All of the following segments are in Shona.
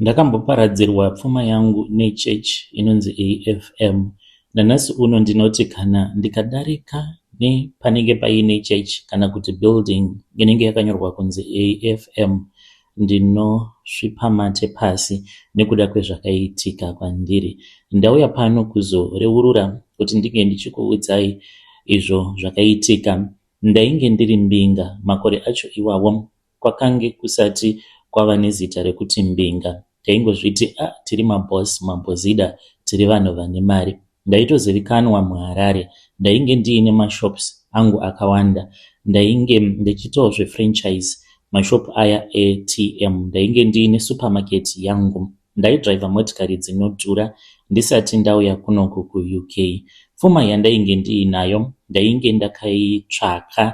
Ndakamboparadzirwa pfuma yangu nechurch inonzi AFM. Nanhasi uno ndinoti kana ndikadarika nepanenge paine church kana kuti building inenge yakanyorwa kunzi AFM ndinosvipa mate pasi nekuda kwezvakaitika kwandiri. Ndauya pano kuzoreurura kuti ndinge ndichikuudzai izvo zvakaitika. Ndainge ndiri mbinga makore acho iwawo Kwakange kusati kwava nezita rekuti Mbinga. Taingozviti ah tiri maboss, mabhozida, tiri vanhu vane mari. Ndaitozivikanwa muHarare. Ndainge ndiine mashops angu akawanda. Ndainge ndichitawo zvefranchise mashop aya eATM. Ndainge ndiine supermarket yangu. Ndaidriver motikari dzinodhura ndisati ndauya kunoku kuUK. Pfuma yandainge ndiinayo ndainge ndakaitsvaka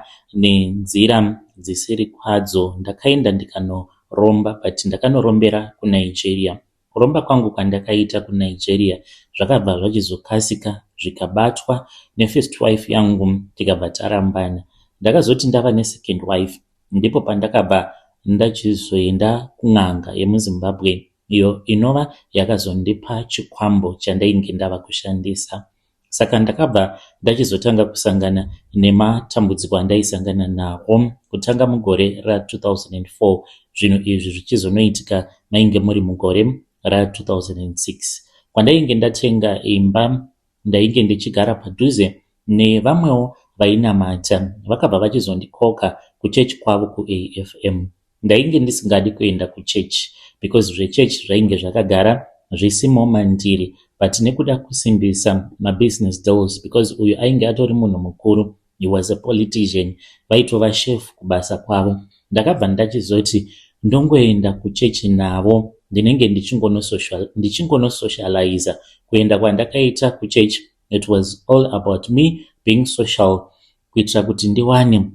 nenzira dzisiri kwadzo. Ndakaenda ndikanoromba but ndakanorombera kuNigeria. Kuromba kwangu kwandakaita kuNigeria zvakabva zvachizokasika zvikabatwa nefirst wife yangu tikabva tarambana. Ndakazoti ndava nesecond wife Ndipo pandakabva ndachizoenda kun'anga yemuZimbabwe iyo inova yakazondipa chikwambo chandainge ndava kushandisa. Saka ndakabva ndachizotanga kusangana nematambudziko andaisangana nawo kutanga mugore ra2004 zvinhu izvi zvichizonoitika mainge muri mugore ra2006 kwandainge ndatenga imba Ndainge ndichigara padhuze nevamwewo vainamata vakabva vachizondikoka kuchurch kwavo kuAFM. Ndainge ndisingadi kuenda kuchurch because zvechurch zvainge zvakagara zvisimo mandiri but nekuda kusimbisa mabusiness deals because uyu ainge atori munhu mukuru he was a politician vaitova chef kubasa kwavo ndakabva ndachizoti ndongoenda kuchechi navo ndinenge ndichingonosocializa kuenda kwandakaita kuchechi it was all about me being social kuitira kuti ndiwane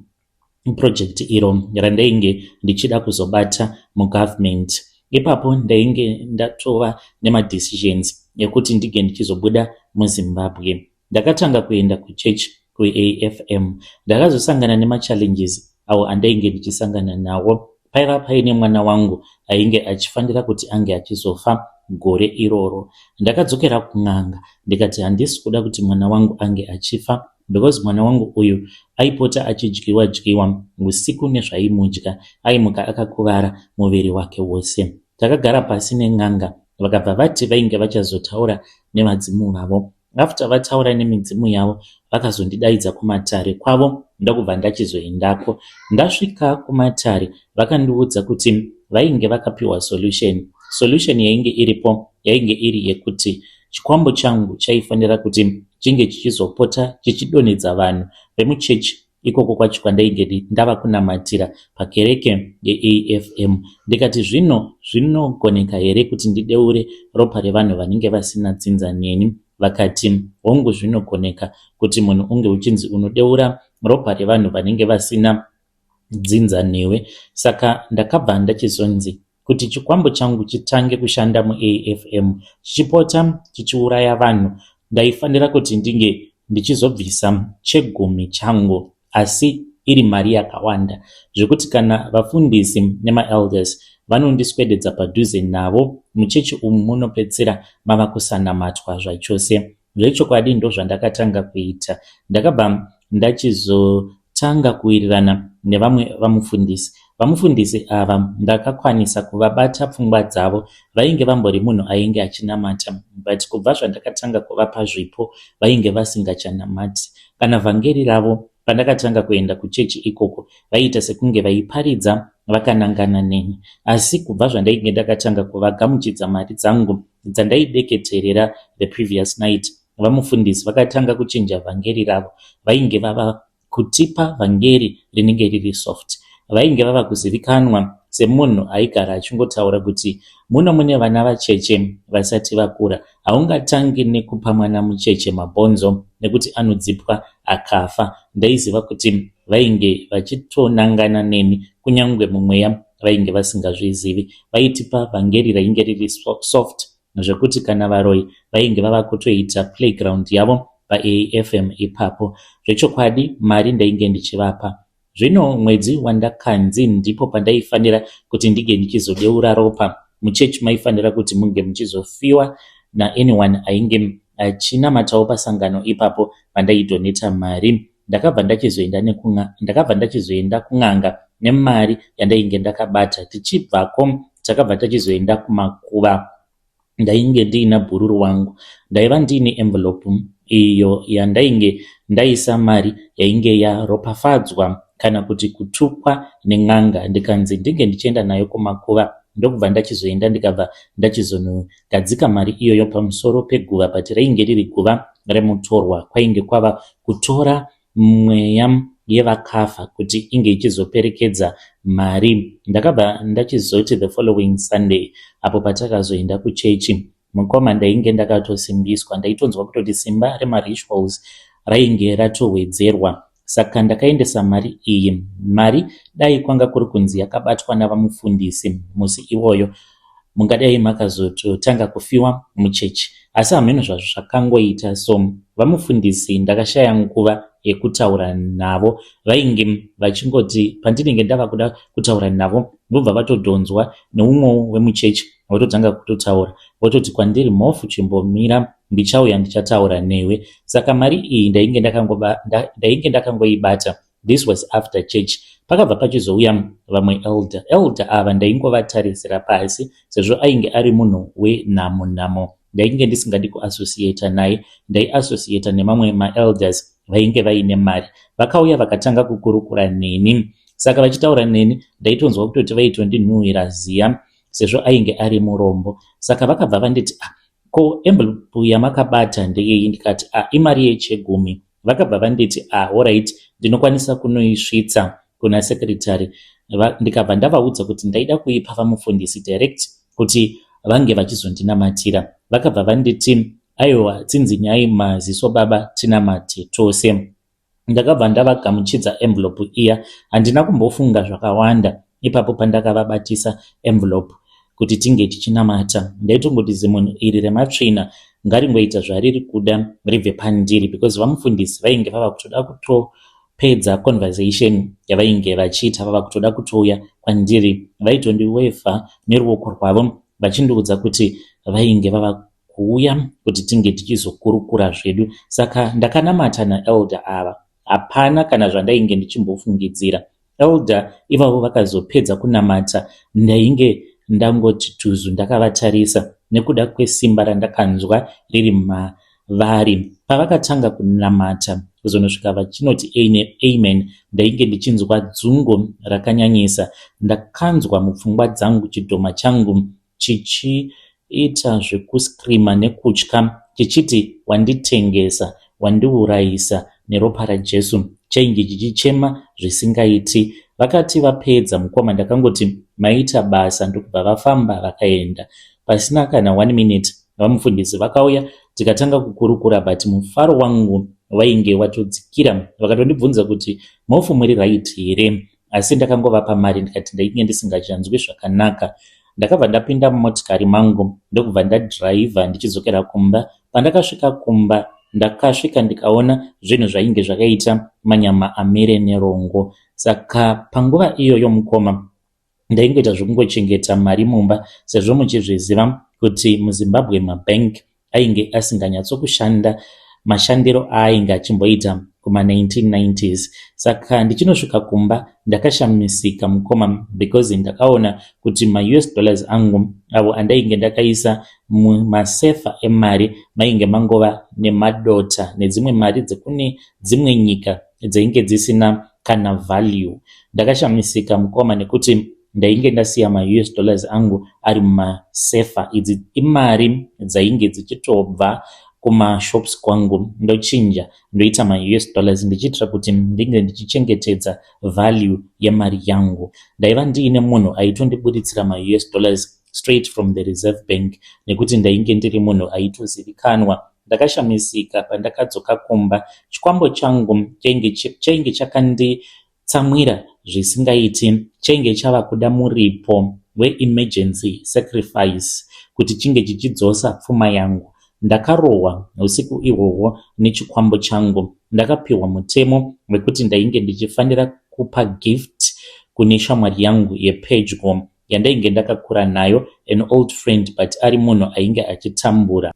project iro randainge ndichida kuzobata mugovernment ipapo ndainge ndatova nemadecisions ekuti ndinge ndichizobuda muzimbabwe Ndakatanga kuenda kuchurch kuAFM. Ndakazosangana nemachallenges awo andainge ndichisangana nawo. Paiva paine mwana wangu ainge achifanira kuti ange achizofa gore iroro. Ndakadzokera kun'anga ndikati handisi kuda kuti mwana wangu ange achifa because mwana wangu uyu aipota achidyiwa dyiwa usiku nezvaimudya aimuka akakuvara muviri wake wose takagara pasi nen'anga vakabva vati vainge vachazotaura nevadzimu vavo After vataura nemidzimu yavo vakazondidaidza kumatare kwavo ndokubva ndachizoendako. Ndasvika kumatare vakandiudza kuti vainge vakapiwa solution. Solution yainge iripo yainge iri yekuti chikwambo changu chaifanira kuti chinge chichizopota chichidonhedza vanhu vemuchechi Ikoko kwacho kwandainge ndava kunamatira pakereke yeAFM ndikati zvino zvinogoneka here kuti ndideure ropa revanhu vanenge vasina dzinza neni? Vakati hongu zvinogoneka kuti munhu unge uchinzi unodeura ropa revanhu vanenge vasina dzinza newe. Saka ndakabva ndachizonzi kuti chikwambo changu chitange kushanda muafm chichipota chichiuraya vanhu ndaifanira kuti ndinge ndichizobvisa chegumi changu asi iri mari yakawanda zvekuti kana vafundisi nemaelders vanondiswededza padhuze navo muchechi umu munopedzisira mava kusanamatwa zvachose Zvechokwadi ndozvandakatanga kuita. Ndakabva ndachizotanga kuwirirana nevamwe vamufundisi. Vamufundisi ava ndakakwanisa kuvabata pfungwa dzavo. Vainge vambori munhu ainge achinamata but kubva zvandakatanga kuvapa zvipo vainge vasingachanamati. Kana vhangeri ravo pandakatanga kuenda kuchechi ikoko vaiita sekunge vaiparidza vakanangana neni asi kubva zvandainge ndakatanga kuvagamuchidza mari dzangu dzandaideketerera the previous night, vamufundisi vakatanga kuchinja vhangeri ravo. Vainge vava kutipa vhangeri rinenge riri soft. Vainge vava kuzivikanwa semunhu aigara achingotaura kuti muno mune vana vacheche vasati vakura, haungatangi nekupa mwana mucheche mabhonzo nekuti anodzipwa akafa. Ndaiziva kuti vainge vachitonangana neni kunyangwe mumweya vainge vasingazvizivi. Vaitipa vhangeri rainge riri soft zvekuti kana varoyi vainge vava kutoita playground yavo paafm ipapo. Zvechokwadi mari ndainge ndichivapa. Zvino mwedzi wandakanzi ndipo pandaifanira kuti ndinge ndichizodeura ropa muchechi maifanira kuti munge muchizofiwa naanyone ainge achinamatawo pasangano ipapo pandaitoneta mari ndakabva ndachizoenda nekun'a ndakabva ndachizoenda kun'anga nemari yandainge ndakabata tichibvako takabva tachizoenda kumakuva ndainge ndiina bhururu wangu ndaiva ndiine envelope iyo yandainge ndaisa mari yainge yaropafadzwa kana kuti kutukwa nen'anga ndikanzi ndinge ndichienda nayo kumakuva ndokubva ndachizoenda ndikabva ndachizono Gadzika mari iyoyo pamusoro peguva but reinge riri guva remutorwa kwainge kwava kutora mweya yevakafa kuti inge ichizoperekedza mari ndakabva ndachizoti the following sunday apo patakazoenda kuchechi mukoma ndainge ndakatosimbiswa ndaitonzwa kutoti simba remarituals rainge ratowedzerwa Saka ndakaendesa mari iyi. Mari dai kwanga kuri kunzi yakabatwa navamufundisi musi iwoyo mungadai makazototanga kufiwa muchechi asi hameno zvazvo zvakangoita so vamufundisi ndakashaya nguva yekutaura navo vainge vachingoti pandinenge ndava kuda kutaura navo vobva vatodhonzwa neumwe wemuchechi vototanga kutotaura vototi kwandiri mhofu chimbomira ndichauya ndichataura newe saka mari iyi ndainge ndakangoba ndainge ndakangoibata this was after church pakabva pachizouya vamwe elder elder ava ndaingovatarisira pasi sezvo ainge ari munhu wenhamo nhamo ndainge ndisingadi kuassociata naye ndaiassociata nemamwe maelders vainge vaine mari vakauya vakatanga kukurukura neni saka vachitaura neni ndaitonzwa kutoti vaitondinhuhwira ziya sezvo ainge ari murombo saka vakabva vanditi a ah, ko envelope yamakabata ndeyeyi ndikati a ah, imari yechegumi vakabva vanditi a ah, orit ndinokwanisa kunoisvitsa kuna secretary ndikabva ndavaudza kuti ndaida kuipa vamufundisi direct kuti vange vachizondinamatira vakabva vanditi aiwa tsinzinyai maziso baba tinamate tose Ndakabva ndavagamuchidza envelope iya. Handina kumbofunga zvakawanda ipapo pandakavabatisa envelope kuti tinge tichinamata. Ndaitongoti zimunhu iri rematsvina ngaringoita zvariri kuda ribve pandiri because vamufundisi vainge vava kutoda kutopedza conversation yavainge vachiita vava kutoda kutouya kwandiri vaitondiwevha neruoko rwavo vachindiudza kuti vainge vava kuuya kuti tinge tichizokurukura zvedu saka ndakanamata naelder ava hapana kana zvandainge ndichimbofungidzira elder ivavo vakazopedza kunamata ndainge ndangoti tuzu ndakavatarisa nekuda kwesimba randakanzwa riri mavari pavakatanga kunamata kuzonosvika vachinoti eine amen ndainge ndichinzwa dzungo rakanyanyisa ndakanzwa mupfungwa dzangu chidhoma changu chichiita zvekuscreamer nekutya chichiti wanditengesa, wandiurayisa neropa raJesu, chainge chichichema zvisingaiti. Vakati vapedza mukoma ndakangoti maita basa ndokubva vafamba vakaenda. Pasina kana one minute vamufundisi vakauya tikatanga kukurukura but mufaro wangu vainge watodzikira vakatondibvunza kuti mhofu muri right here asi ndakangovapa mari ndikati ndainge ndisingachanzwi zvakanaka. Ndakabva ndapinda mumotikari mangu ndokubva ndadhiraivha ndichidzokera kumba. Pandakasvika kumba ndakasvika ndikaona zvinhu zvainge zvakaita manyama amire nerongo saka panguva iyoyo mukoma ndaingoita zvekungochengeta mari mumba sezvo muchizviziva kuti muzimbabwe mabank ainge asinganyatsokushanda mashandiro aainge achimboita kuma1990s saka ndichinosvika kumba ndakashamisika mukoma because ndakaona kuti maus dollars angu avo andainge ndakaisa mumasefa emari mainge mangova nemadota nedzimwe mari dzekune dzimwe nyika dzainge dzisina kana value ndakashamisika mukoma nekuti ndainge ndasiya maus dollars angu ari mumasefa idzi imari dzainge dzichitobva kumashops kwangu ndochinja ndoita maus dollars ndichiitira kuti ndinge ndichichengetedza value yemari yangu ndaiva ndiine munhu aitondiburitsira maus dollars straight from the reserve bank nekuti ndainge ndiri munhu aitozivikanwa ndakashamisika pandakadzoka kumba chikwambo changu chainge chakandi Tsamwira zvisingaiti chainge chava kuda muripo weemergency sacrifice kuti chinge chichidzosa pfuma yangu. Ndakarohwa usiku ihwohwo nechikwambo changu. Ndakapihwa mutemo wekuti ndainge ndichifanira kupa gift kune shamwari yangu yepedyo yandainge ndakakura nayo, an old friend but ari munhu ainge achitambura.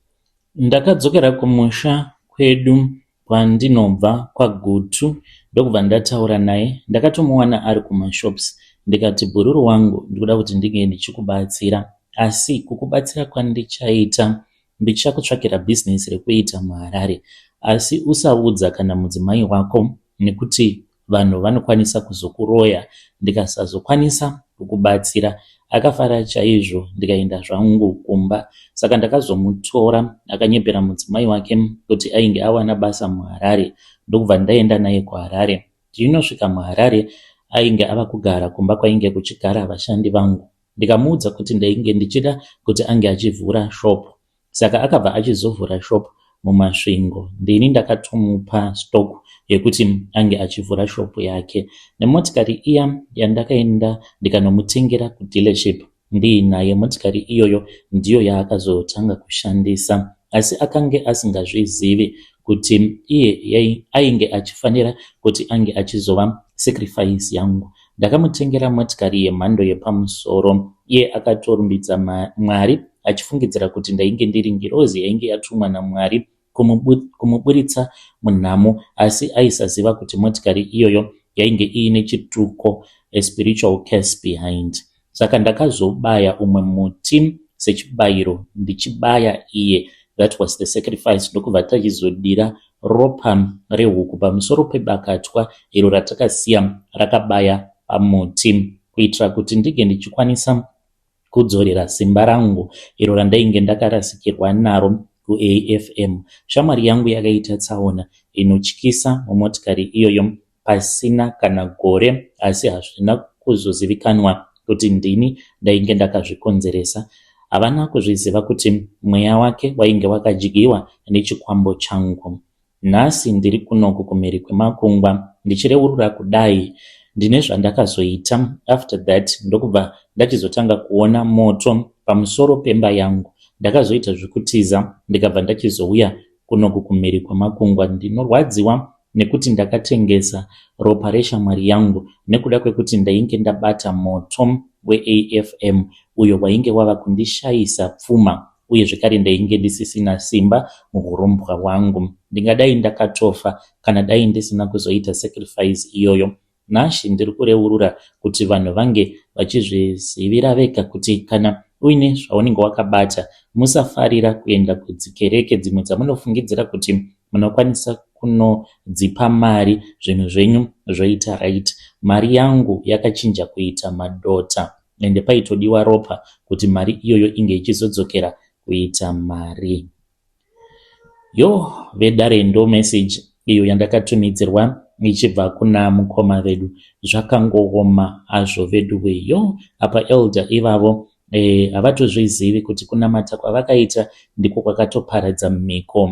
Ndakadzokera kumusha kwedu kwandinobva kwaGutu ndokubva ndataura naye ndakatomuwana ari kumashops ndikati bhururu wangu ndikuda kuti ndinge ndichikubatsira asi kukubatsira kwandichaita ndichakutsvakira business rekuita muHarare asi usaudza kana mudzimai wako nekuti vanhu vanokwanisa kuzokuroya ndikasazokwanisa kukubatsira akafara chaizvo ndikaenda zvangu kumba saka ndakazomutora akanyepera mudzimai wake kuti ainge awana basa muharare ndokubva ndaenda naye kuharare tiinosvika muharare ainge ava kugara kumba kwainge kuchigara vashandi vangu ndikamuudza kuti ndainge ndichida kuti ange achivhura shopo saka akabva achizovhura shop mumasvingo ndini ndakatomupa stock yekuti ange achivhura shop yake nemotikari iya yandakaenda ndikanomutengera kudealership ndiinaye motikari iyoyo ndiyo yaakazotanga kushandisa asi akange asingazvizivi kuti iye ainge achifanira kuti ange achizova sacrifice yangu Ndakamutengera motikari yemhando yepamusoro. Iye akatorumbidza Mwari achifungidzira kuti ndainge ndiri ngirozi yainge yatumwa naMwari kumuburitsa munhamo asi aisaziva kuti motikari iyoyo yainge iine chituko, a spiritual curse behind. Saka ndakazobaya umwe muti sechibayiro ndichibaya iye that was the sacrifice ndokubva tachizodira ropa rehuku pamusoro pebakatwa iro ratakasiya rakabaya pamuti kuitira kuti ndinge ndichikwanisa kudzorera simba rangu iro randainge ndakarasikirwa naro kuafm shamwari yangu yakaita tsaona inotyisa mumotikari iyoyo pasina kana gore asi hazvina kuzozivikanwa kuti ndini ndainge ndakazvikonzeresa. Havana kuzviziva kuti mweya wake wainge wakadyiwa nechikwambo changu. Nhasi ndiri kunoku kumhiri kwemakungwa ndichireurura kudai ndine zvandakazoita after that ndokubva ndachizotanga kuona moto pamusoro pemba yangu ndakazoita zvekutiza ndikabva ndachizouya kunoku kumhiri kwemakungwa ndinorwadziwa nekuti ndakatengesa ropa reshamwari yangu nekuda kwekuti ndainge ndabata moto weAFM uyo wainge wava kundishaisa pfuma uye zvekare ndainge ndisisina simba muhurombwa hwangu. Ndingadai ndakatofa kana dai ndisina kuzoita sacrifice iyoyo. Nhasi ndiri kureurura kuti vanhu vange vachizvizivira vega kuti kana uine zvaunenge wakabata, musafarira kuenda kudzikereke dzimwe dzamunofungidzira kuti munokwanisa kunodzipa mari zvinhu zvenyu zvoita right. Mari yangu yakachinja kuita madota ende paitodiwa ropa kuti mari iyoyo inge ichizodzokera kuita mari. Yo vedare ndo message iyo yandakatumidzirwa ichibva kuna mukoma vedu zvakangooma hazvo veduwe yo apa elder ivavo eh, havatozvizivi e, kuti kunamata kwavakaita ndiko kwakatoparadza mhiko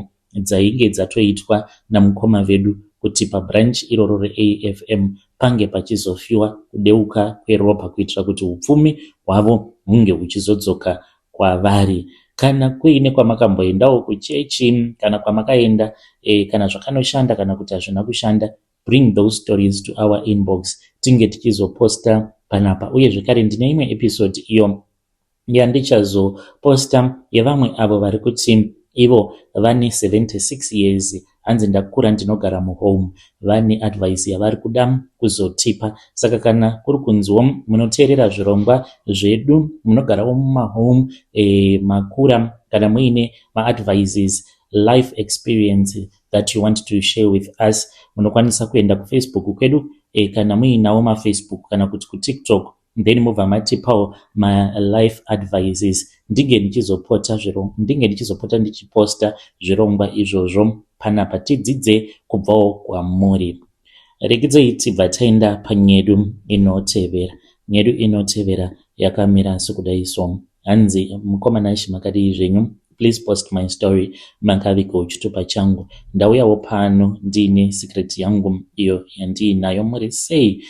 dzainge dzatoitwa namukoma vedu kuti pabranch iroro reafm pange pachizofiwa kudeuka kweropa kuitira kuti upfumi hwavo hunge huchizodzoka kwavari kana kuine kwamakamboendawo kuchechi kana kwamakaenda eh, kana zvakanoshanda kana kuti hazvina kushanda bring those stories to our inbox tinge tichizoposta panapa uye zvekare ndine imwe episode iyo yandichazoposta yevamwe avo vari kuti ivo vane 76 years hanzi ndakura ndinogara muhome vane advice yavari kuda kuzotipa saka kana kuri kunzwo munoteerera zvirongwa zvedu munogarawo mumahome e, makura kana muine maadvices life experience that you want to share with us munokwanisa kuenda kufacebook kwedu e, kana muinawo mafacebook kana kuti kutiktok then mobva matipawo malife advices ndinge ndichizopota zviro ndinge ndichizopota ndichiposta zvirongwa izvozvo panapa tidzidze kubvawo kwamuri rekidzei tibva taenda panyedu inotevera nyedu inotevera yakamira sekudai so hanzi mukoma nashi makadii zvenyu please post my story makaviko chitupa changu ndauyawo pano ndiine secret yangu iyo yandiinayo muri sei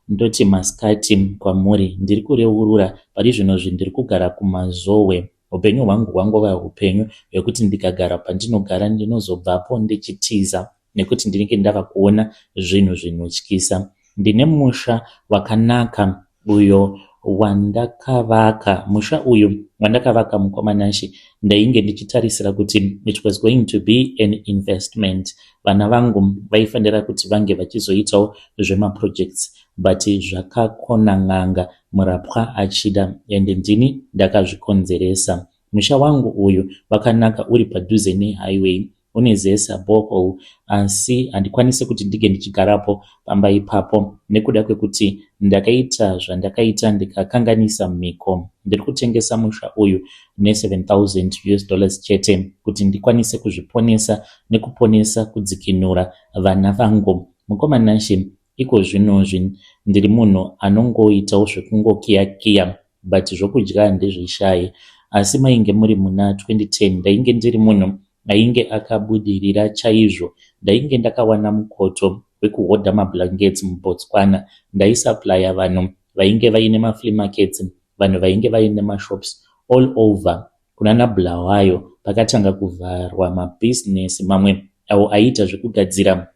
Ndoti masikati kwamuri ndiri kureurura pari zvino zve ndiri kugara kuMazowe. Hupenyu hwangu hwangova hupenyu hwekuti ndikagara pandinogara ndinozobvapo ndichitiza nekuti ndinenge ndava kuona zvinhu zvinotyisa. Ndine musha wakanaka uyo wandakavaka. Musha uyu wandakavaka mukoma Nashe ndainge ndichitarisira kuti it was going to be an investment vana vangu vaifanira kuti vange vachizoitawo zvemaprojects but zvakakona n'anga murapwa achida and ndini ndakazvikonzeresa musha wangu uyu wakanaka uri padhuze nehighway une zesa bohol asi handikwanise kuti ndinge ndichigarapo pamba ipapo nekuda kwekuti ndakaita zvandakaita ndikakanganisa mhiko ndiri kutengesa musha uyu ne7000 us dollars chete kuti ndikwanise kuzviponesa nekuponesa kudzikinura vana vangu mukoma nashe iko zvinozvi ndiri munhu anongoitawo zvekungokiyakiya but zvokudya handizvishayi asi mainge muri muna 2010 ndainge ndiri munhu ainge akabudirira chaizvo ndainge ndakawana mukoto wekuhodha mablankets mubotswana ndaisaplaya vanhu vainge vaine maflea markets vanhu vainge vaine mashops all over kunana bulawayo pakatanga kuvharwa mabusiness mamwe awo aiita zvekugadzira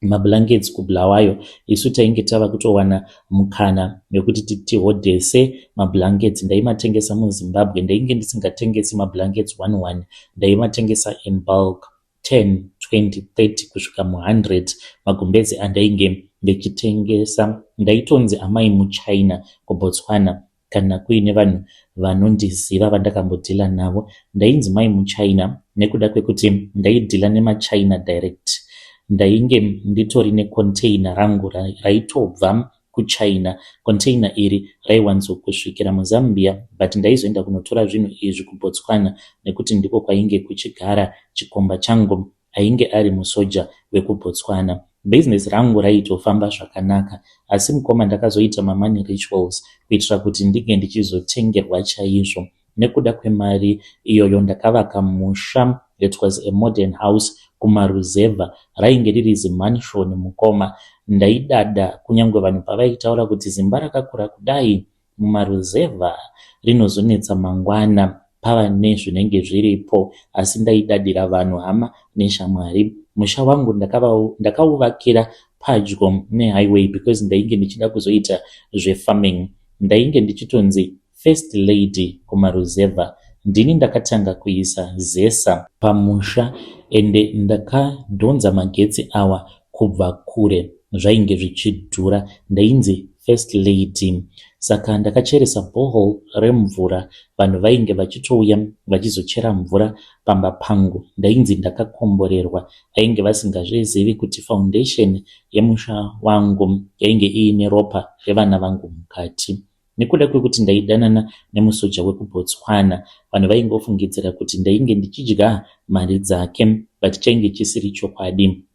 mablankets kubulawayo isu tainge tava kutowana mukana wekuti tihodhese mablankets ndaimatengesa muzimbabwe ndainge ndisingatengesi mablankets one one ndaimatengesa in bulk 10, 20, 30 kusvika mu 100 magumbeze andainge ndichitengesa ndaitonzi amai muchina kuBotswana kana kuine vanhu vanondiziva vandakambodhila navo ndainzi mai muchina nekuda kwekuti ndaidhila nemachina direct ndainge nditori necontainer rangu raitobva kuChina. Container iri raiwanzokusvikira muZambia but ndaizoenda kunotora zvinhu izvi kuBotswana nekuti ndiko kwainge kuchigara chikomba changu ainge ari musoja wekuBotswana. Business rangu raitofamba zvakanaka asi mukoma ndakazoita mamoney rituals kuitira kuti ndinge ndichizotengerwa chaizvo. Nekuda kwemari iyoyo ndakavaka musha that was a modern house kumaruzevha rainge riri zimansion mukoma. Ndaidada kunyangwe vanhu pavaitaura kuti zimba rakakura kudai mumaruzevha rinozonetsa mangwana pava nezvinenge zviripo asi ndaidadira vanhu hama neshamwari. Musha wangu ndakauvakira padyo nehighway because ndainge ndichida kuzoita zvefarming. Ndainge ndichitonzi First lady kumaruzevha ndini ndakatanga kuisa zesa pamusha ende ndakadhonza magetsi awa kubva kure zvainge zvichidhura ndainzi first lady saka ndakacheresa bohol remvura vanhu vainge vachitouya vachizochera mvura pamba pangu ndainzi ndakakomborerwa vainge vasingazvizivi kuti foundation yemusha wangu yainge iine ropa revana vangu mukati Nekuda kwekuti ndaidanana nemusoja wekuBotswana, vanhu vaingofungidzira kuti ndainge ndichidya mari dzake but chainge chisiri chokwadi.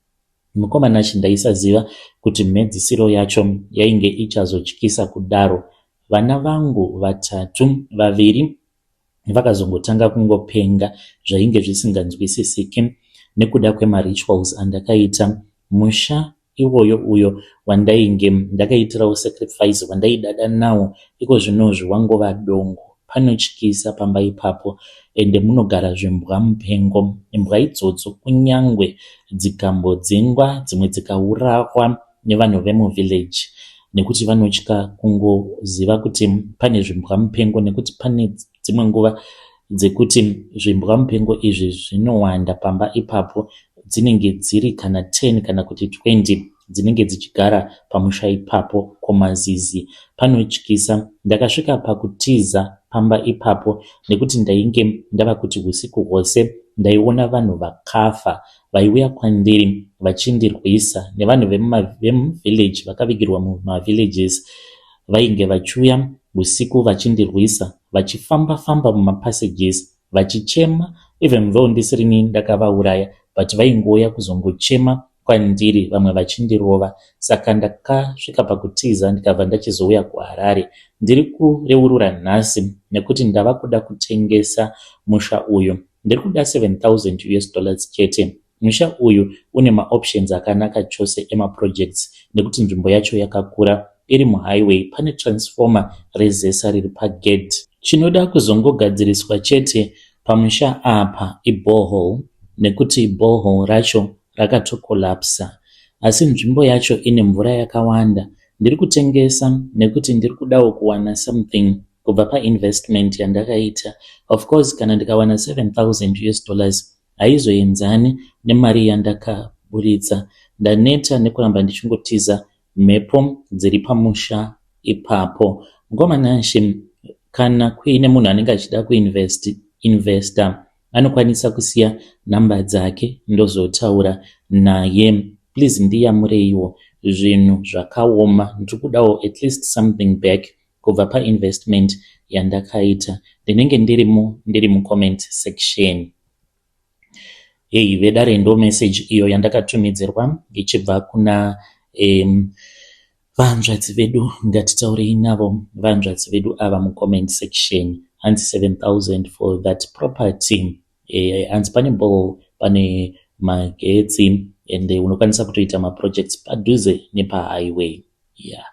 Mukoma Nashy ndaisaziva kuti mhedzisiro yacho yainge ichazotyisa kudaro. Vana vangu vatatu, vaviri vakazongotanga kungopenga zvainge zvisinganzwisisiki nekuda kwemarituals andakaita. Musha iwoyo uyo wandainge ndakaitirawo sacrifice wandaidada nawo iko zvinozvi wangova dongo panotyisa pamba ipapo ende munogara zvimbwa mupengo imbwa idzodzo kunyangwe dzikambodzingwa dzimwe dzikaurahwa nevanhu vemuvillage nekuti vanotya kungoziva kuti pane zvimbwa mupengo nekuti pane dzimwe nguva dzekuti zvimbwa mupengo izvi zvinowanda pamba ipapo dzinenge dziri kana 10 kana kuti 20 dzinenge dzichigara pamusha ipapo komazizi panotyisa ndakasvika pakutiza pamba ipapo nekuti ndainge ndava kuti usiku hwose ndaiona vanhu vakafa vaiuya kwandiri vachindirwisa nevanhu vemuvillage vakavigirwa mumavillages Vainge vachiuya husiku vachindirwisa vachifamba famba muma passages vachichema even though ndisirini ndakavauraya but vaingouya kuzongochema kwandiri vamwe vachindirova saka ndakasvika pakutiza ndikabva ndachizouya kuHarare ndiri kureurura nhasi nekuti ndava kuda kutengesa musha uyu ndiri kuda 7000 us dollars chete Musha uyu une maoptions akanaka chose emaprojects nekuti nzvimbo yacho yakakura, iri muhighway, pane transformer reZESA riri pagedhi. Chinoda kuzongogadziriswa chete pamusha apa iborehole nekuti borehole racho rakatocollapser asi nzvimbo yacho ine mvura yakawanda. Ndiri kutengesa nekuti ndiri kudawo kuwana something kubva painvestment yandakaita. Of course kana ndikawana 7000 us dollars haizoenzane nemari yandakaburitsa. Ndaneta nekuramba ndichingotiza mhepo dziri pamusha ipapo. Mukoma Nashe, kana kuine munhu anenge achida kuinvest, investor anokwanisa kusiya number dzake ndozotaura naye. Please ndiyamureiwo, zvinhu zvakaoma, ndiri kudawo at least something back Kubva pa investment yandakaita ndinenge ndiri mu ndiri mu comment section. Hey vedare ndo message iyo yandakatumidzirwa ichibva kuna um, vahanzvadzi vedu ngatitaurei navo vahanzvadzi vedu ava mucomment section hanzi 7000 for that property Eh, hanzi pane ball pane magetsi and unokwanisa kutoita maprojects padhuze nepahighway yeah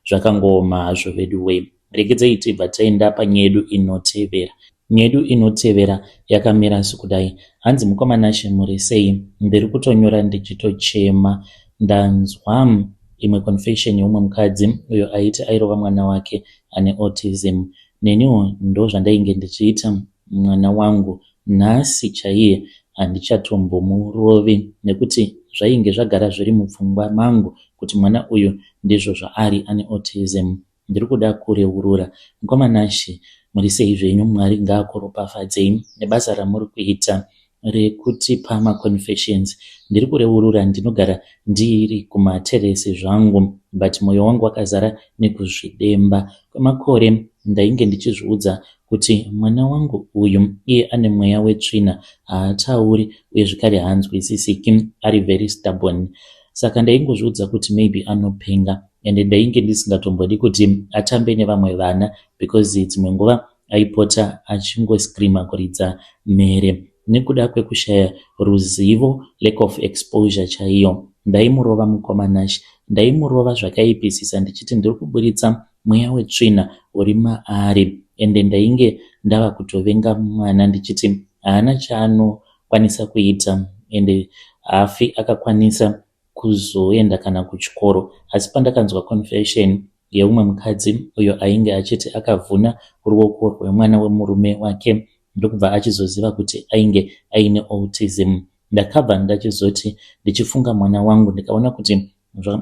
zvakangooma hazvo vedu way rekedzei tibva taenda panyedu inotevera nyedu inotevera yakamira sikudai hanzi mukomanashe muri sei ndiri kutonyora ndichitochema ndanzwa imwe confession yeumwe mukadzi uyo aiti airova mwana wake ane autism neniwo ndozvandainge ndichiita mwana wangu nhasi chaiye handichatombomurovi nekuti zvainge zvagara zviri mupfungwa mangu kuti mwana uyu ndizvo zvaari ane autism ndiri kuda kureurura mukoma Nashy muri sei zvenyu Mwari ngaakuropafadzei nebasa ramuri kuita rekutipa ma confessions ndiri kureurura ndinogara ndiri kuma terrace zvangu but moyo wangu wakazara nekuzvidemba kwemakore ndainge ndichizviudza kuti mwana wangu uyu iye ane mweya wetsvina haatauri uye zvekare haanzwisisiki ari very stubborn saka ndaingozviudza kuti maybe anopenga and ndainge ndisingatombodi kuti atambe nevamwe vana because dzimwe nguva aipota achingoscreamer kuridza mhere nekuda kwekushaya ruzivo lack of exposure chaiyo. Ndaimurova mukoma Nash ndaimurova zvakaipisisa ndichiti ndiri kuburitsa mweya wetsvina uri maari ende ndainge ndava kutovenga mwana ndichiti haana chaanokwanisa kuita ende hafi akakwanisa kuzoenda kana kuchikoro asi pandakanzwa confession yeumwe mukadzi uyo ainge achiti akavhuna ruoko rwemwana wemurume wake ndokubva achizoziva kuti ainge aine autism ndakabva ndachizoti ndichifunga mwana wangu ndikaona kuti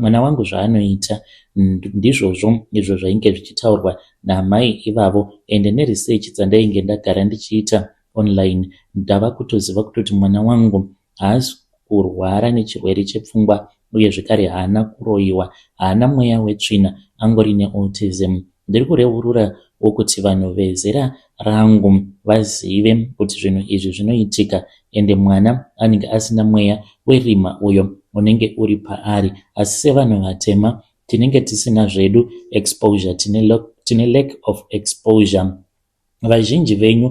mwana wangu zvaanoita ndizvozvo izvo zvainge zvichitaurwa naamai ivavo ende neresearch dzandainge ndagara ndichiita online ndava kutoziva kutoti mwana wangu haasi kurwara nechirwere chepfungwa uye zvekare haana kuroyiwa, haana mweya wetsvina, angori neautism. Ndiri kureurura wokuti vanhu vezera rangu vazive kuti zvinhu izvi zvinoitika ende mwana anenge asina mweya werima uyo unenge uri paari asi sevanhu vatema tinenge tisina zvedu exposure, tine lack of exposure. Vazhinji venyu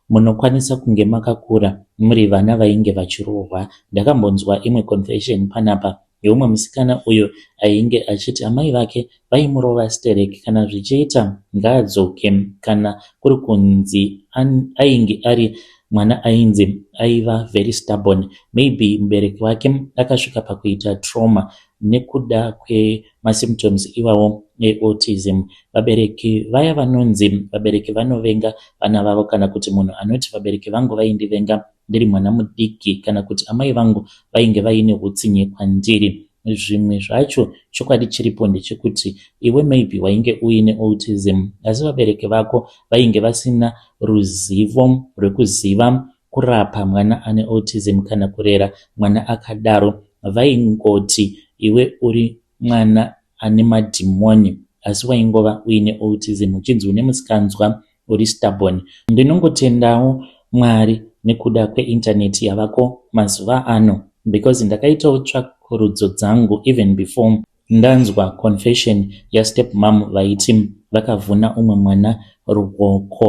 munokwanisa kunge makakura muri vana vainge vachirohwa. Ndakambonzwa imwe confession panapa yeumwe musikana uyo ainge achiti amai vake vaimurova sterek kana zvichiita ngaadzoke kana kuri kunzi ainge ari mwana ainzi aiva very stubborn maybe mubereki wake akasvika pakuita trauma nekuda kwemasymptoms iwawo eautism. Vabereki vaya vanonzi vabereki vanovenga vana vavo kana kuti munhu anoti vabereki vangu vaindivenga ndiri mwana mudiki kana kuti amai vangu vainge vaine utsinye kwandiri. Zvimwe zvacho chokwadi chiripo ndechekuti iwe maybe wainge uine autism asi vabereki vako vainge vasina ruzivo rwekuziva kurapa mwana ane autism kana kurera mwana akadaro vaingoti iwe uri mwana ane madhimoni asi waingova uine autism uchinzi une musikanzwa uri stubborn ndinongotendawo mwari nekuda kweinternet yavako mazuva ano because ndakaitawo tsvakurudzo dzangu even before Ndanzwa confession yastep mom vaiti vakavhuna umwe mwana ruoko.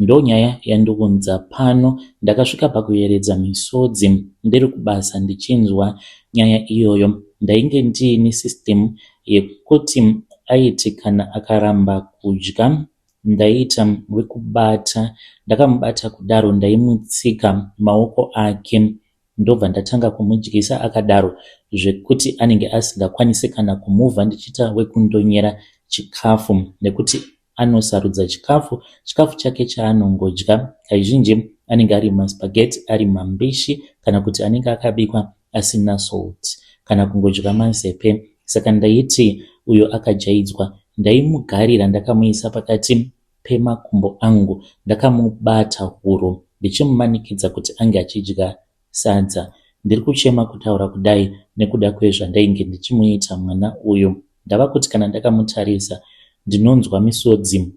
Ndonyaya yandiunza pano ndakasvika pakuyeredza misodzi ndiri kubasa ndichinzwa nyaya iyoyo ndainge ndiine system yekuti aiti kana akaramba kudya ndaita wekubata ndakamubata kudaro ndaimutsika maoko ake ndobva ndatanga kumudyisa akadaro zvekuti anenge asingakwanise kana kumuva ndichiita wekundonyera chikafu nekuti anosarudza chikafu chikafu chake chaanongodya kaizhinji anenge ari maspageti ari mambishi kana kuti anenge akabikwa asina salt kana kungodya mazepe saka ndaiti uyo akajaidzwa ndaimugarira ndakamuisa pakati pemakumbo angu ndakamubata huro ndichimumanikidza kuti ange achidya sadza. Ndiri kuchema kutaura kudai nekuda kwezvandainge ndichimuita mwana uyu. Ndava kuti kana ndakamutarisa ndinonzwa misodzi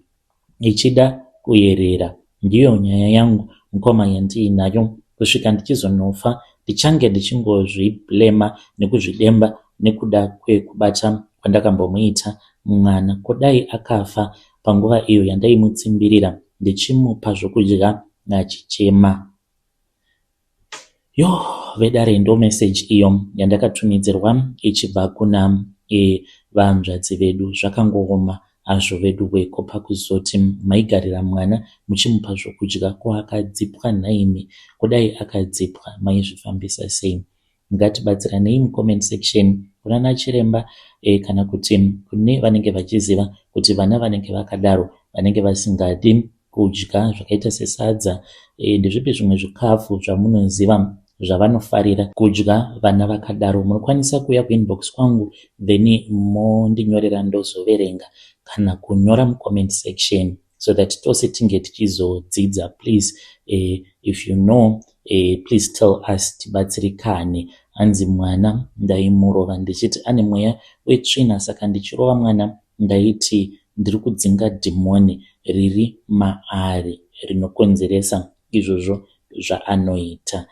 ichida kuyerera. Ndiyo nyaya yangu mukoma yandiinayo kusvika ndichizonofa ndichange ndichingozviblema nekuzvidemba nekuda kwekubata kwandakambomuita mwana. Ko dai akafa panguva iyo yandaimutsimbirira ndichimupa zvokudya achichema. Yo vedare ndo message iyo yandakatumidzirwa ichibva kuna e vahanzvadzi vedu zvakangooma azvo vedu weko pakuzoti maigarira mwana muchimupa zvokudya ko akadzipwa nhaimi kudai akadzipwa maizvifambisa sei Ngatibatsiranei mucomment section kunana chiremba kana kuti kune vanenge vachiziva kuti vana vanenge vakadaro vanenge vasingadi kudya zvakaita sesadza ndezvipi zvimwe zvikafu zvamunoziva zvavanofarira kudya vana vakadaro munokwanisa kuuya kuinbox kwangu then mondinyorera ndozoverenga kana kunyora mucomment section. so that tose tinge tichizodzidza please uh, if you know uh, please tell us tibatsirikane hanzi mwana ndaimurova ndichiti ane mweya wetsvina saka ndichirova mwana ndaiti ndiri kudzinga dhimoni riri maari rinokonzeresa izvozvo zvaanoita.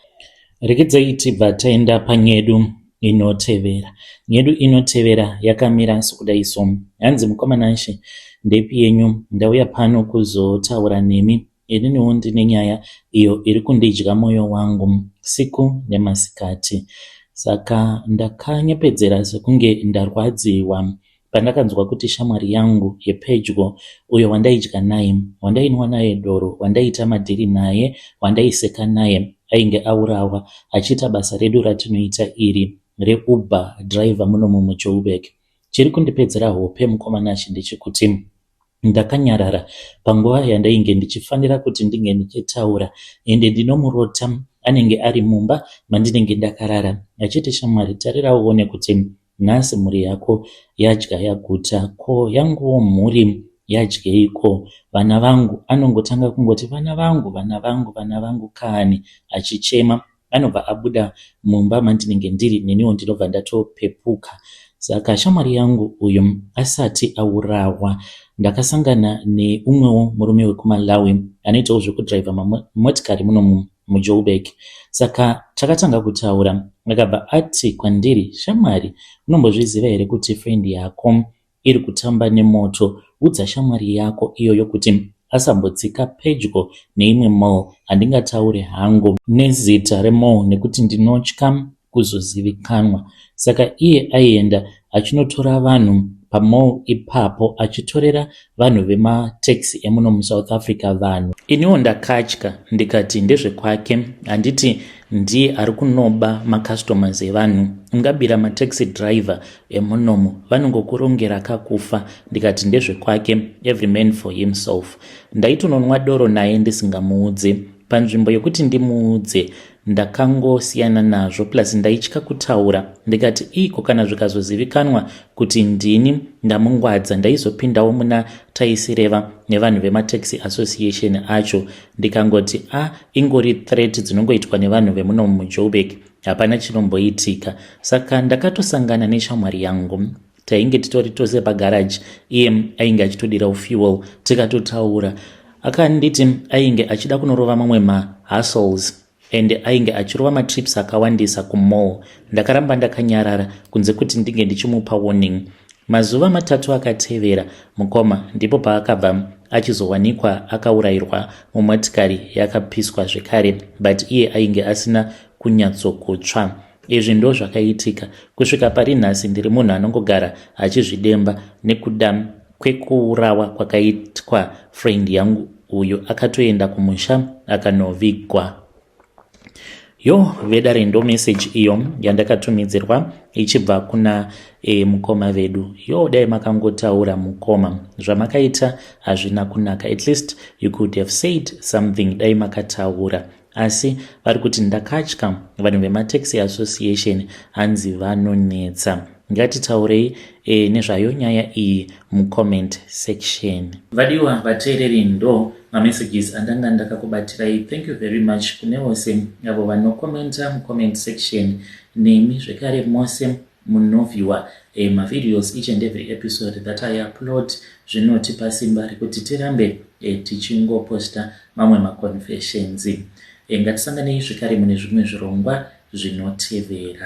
Rekedzayi tibva taenda panyedu inotevera. Nyedu inotevera yakamira sokudayi so. Hanzi, Mukoma Nashe, ndepi yenyu? Ndauya pano kuzotaura nemi. Ininiwo ndine nyaya iyo iri kundidya moyo wangu siku nemasikati. Saka ndakanyepedzera sekunge ndarwadziwa. Pandakanzwa kuti shamwari yangu yepedyo, uyo wandaidya naye, wandainwa naye doro, wandaiita madhiri naye, wandaiseka naye, ainge aurawa achiita basa redu ratinoita iri reUber driver munomu muJoburg. Chiri kundipedzera hope mukoma Nashy ndechekuti ndakanyarara panguva yandainge ndichifanira kuti ndinge ndichitaura ende ndinomurota anenge ari mumba mandinenge ndakarara achiti shamwari tarira uone kuti Nhasi mhuri yako yadya yaguta ko yanguwo mhuri yadyei ko vana vangu anongotanga kungoti vana vangu vana vangu vana vangu kani achichema anobva abuda mumba mandinenge ndiri neniwo ndinobva ndatopepuka saka shamwari yangu uyu asati aurawa ndakasangana neumwewo murume wekumalawi anoitawo zvekudriver mamotikari munomu muJoburg saka takatanga kutaura akabva ati kwandiri shamwari unombozviziva here kuti friend yako iri kutamba nemoto udza shamwari yako iyoyo kuti asambodzika pedyo neimwe mall handingataure hangu nezita remall nekuti ndinotya kuzozivikanwa saka iye aienda achinotora vanhu pamall ipapo achitorera vanhu vemataxi emuno musouth africa vanhu iniwo ndakatya ndikati ndezvekwake handiti ndiye ari kunoba macustomers evanhu ungabira mataxi driver emunomu vanongokurongera kakufa ndikati ndezvekwake every man for himself ndaitononwa doro naye ndisingamuudze panzvimbo yekuti ndimuudze ndakangosiyana nazvo plus ndaitya kutaura ndikati iko kana zvikazozivikanwa kuti ndini ndamungwadza ndaizopindawo muna taisireva nevanhu vemataxi association acho ndikangoti a ah, ingori threat dzinongoitwa nevanhu vemuno mujobek hapana chinomboitika saka ndakatosangana neshamwari yangu tainge titori tose pagaraji iye ainge achitodirawo fuel tikatotaura akanditi ainge achida kunorova mamwe mahustles and ainge achirova matrips akawandisa kumall ndakaramba ndakanyarara kunze kuti ndinge ndichimupa warning mazuva matatu akatevera mukoma ndipo paakabva achizowanikwa akaurayirwa mumotikari yakapiswa zvekare but iye ainge asina kunyatsokutsva Izvi ndozvakaitika kusvika pari nhasi ndiri munhu anongogara achizvidemba nekuda kwekuurawa kwakaitwa friend yangu uyo akatoenda kumusha akanovigwa yo vedare ndo message iyo yandakatumidzirwa ichibva kuna e, mukoma vedu yo dai makangotaura mukoma zvamakaita hazvina kunaka at least you could have said something dai makataura Asi vari kuti ndakatya vanhu vemaTaxi Association hanzi vanonetsa. Ngatitaurei e, nezvayo nyaya iyi mucomment section. Vadiwa vateereri ndo mamessages andanga ndakakubatirai thank you very much kune vose avo vanocommenta mucomment section nemi zvekare mose Muno viewer ma videos each and every episode that I upload zvinotipa simba rekuti tirambe tichingo poster mamwe ma confessions. Ngatisanganei zvekare mune zvimwe zvirongwa zvinotevera.